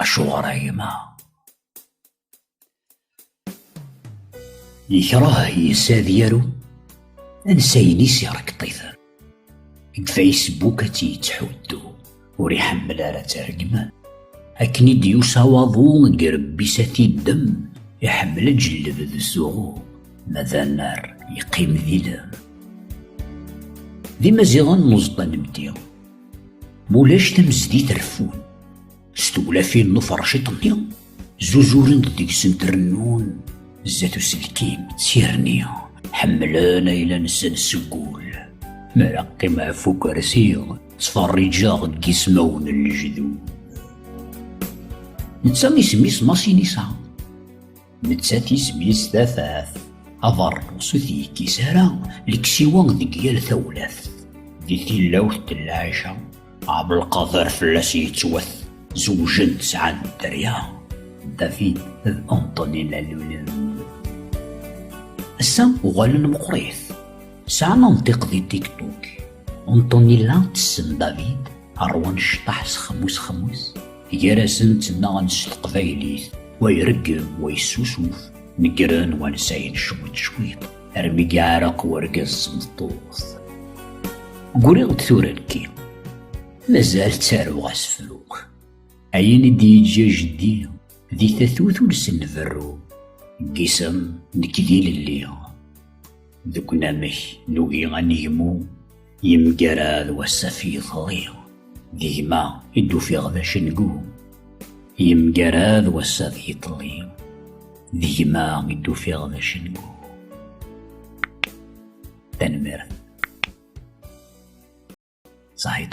Acuɣer a gma? Yekreh yessa ad yaru ansayen-is irekkṭiten. Deg Facebook ad tt-yettḥuddu, ur iḥemmel ara ad tergmen. Akken i d-yusa waḍu n yirebbi-s ad t-iddem, iḥemmel ad jellebed s uɣu, ma d annar yeqqim d ilem. D imaziɣen n uẓeṭṭa n Mti. Mulac tamezdi treffun, s tewlafin n uferciṭ-nni, zuzuren-d deg-sent rennun, zdat uselkim, sirni, ḥemmlen ayla-nsen seg ul. Mi ara qqimeɣ ɣef ukersi, ttferriǧeɣ deg ismawen n lejdud. Netta isem-is Masinisa. Nettat isem-is tafat. Aḍar sut yekkis ara leksiwa deg yal tawlaft. Di tilawt n lɛica, Ɛebdelqader fell-as yettwat. Zewjen sɛan dderya. David d Antonella lulen. Ass-a uɣalen meqrit. Sɛan amtiq di TikTok. Antonella tessen David. Ṛwan cṭaḥ s xemmus xemmus, gar-asen ttnaɣen s teqbaylit, wa ireggem, wa yessusuf, neggren wansayen cwiṭ cwiṭ, armi yeɛreq urgaz s tmeṭṭut. Guriɣ-d tura nekki, mazal ttaruɣ asefru. Ayen i d-yeǧǧa jeddi, di tatut ur sen-berru, n yisem nekk d ilelli, deg unamek nugi ad negmu, Yemgarad wassaf yeḍli, d gma i d-ufiɣ d acengu. Yemgarad wassaf yeḍli, d gma i d-ufiɣ d acengu. Tanemmirt. Saḥit.